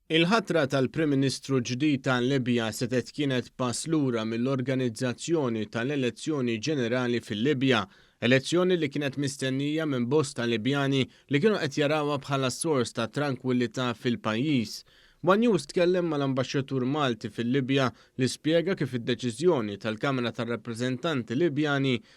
Il-ħatra tal-Prim Ministru ġdid tal-Libja setgħet kienet pass lura mill-organizzazzjoni tal-elezzjoni ġenerali fil-Libja, elezzjoni li kienet mistennija minn bosta Libjani li kienu qed jarawha bħala sors ta' trankwillità fil-pajjiż. One News tkellem mal-Ambaxxatur Malti fil-Libja li spjega kif id-deċiżjoni tal-Kamra tar-Rappreżentanti Libjani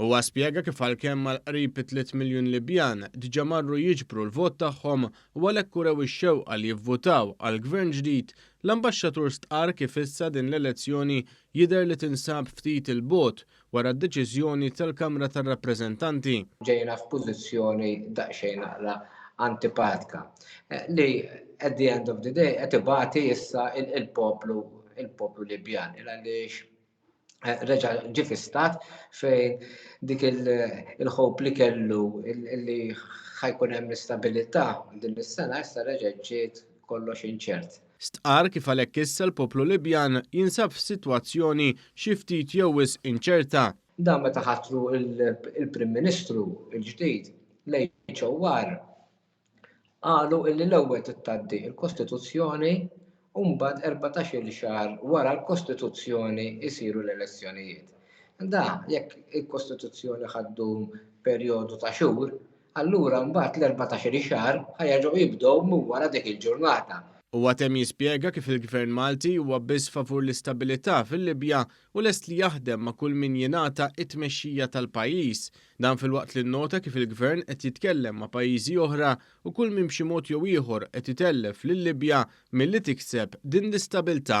Huwa spjega kif għalkemm għall-qrib tliet miljun Libjan diġà marru jiġbru l-vot tagħhom u għalhekk urew ix-xewqa li jivvutaw għal Gvern ġdid, l-Ambaxxatur stqarr kif issa din l-elezzjoni jidher li tinsab ftit 'il bogħod wara d-deċiżjoni tal-Kamra tar-Rappreżentanti. Ġejna f'pożizzjoni daqsxejn naqra antipatika li at the end of the day qed ibati issa il-poplu Libjan għaliex eh, reġa ġi fistat fejn dik il-ħob li kellu li ħajkun hemm l-istabilità din is-sena issa reġa' ġiet kollox inċert. Stqar kif għalhekk issa l-poplu Libjan jinsab f'sitwazzjoni xi ftit jew wis inċerta. Dan meta ħatru il-Prim Ministru l-ġdid l-HOR qalu li l-ewwel trid tgħaddi l-kostituzzjoni u mbagħad erbatax-il xahar wara l-kostituzzjoni jsiru l-elezzjonijiet. Da jekk il-kostituzzjoni ħa ddum perjodu ta' xhur, allura mbagħad l-erbatax-il xahar ħa jerġgħu jibdew minn wara dik il-ġurnata. Huwa temm jispjega kif il-Gvern Malti huwa biss favur l-istabilità fil-Libja u lest li jaħdem ma' kull min jingħata t-tmexxija tal-pajjiż Dan filwaqt li nnota kif il-Gvern qed jitkellem ma' pajjiżi oħra u kull min b'xi mod jew ieħor qed itellef lil-Libja milli tikseb din l-istabilità.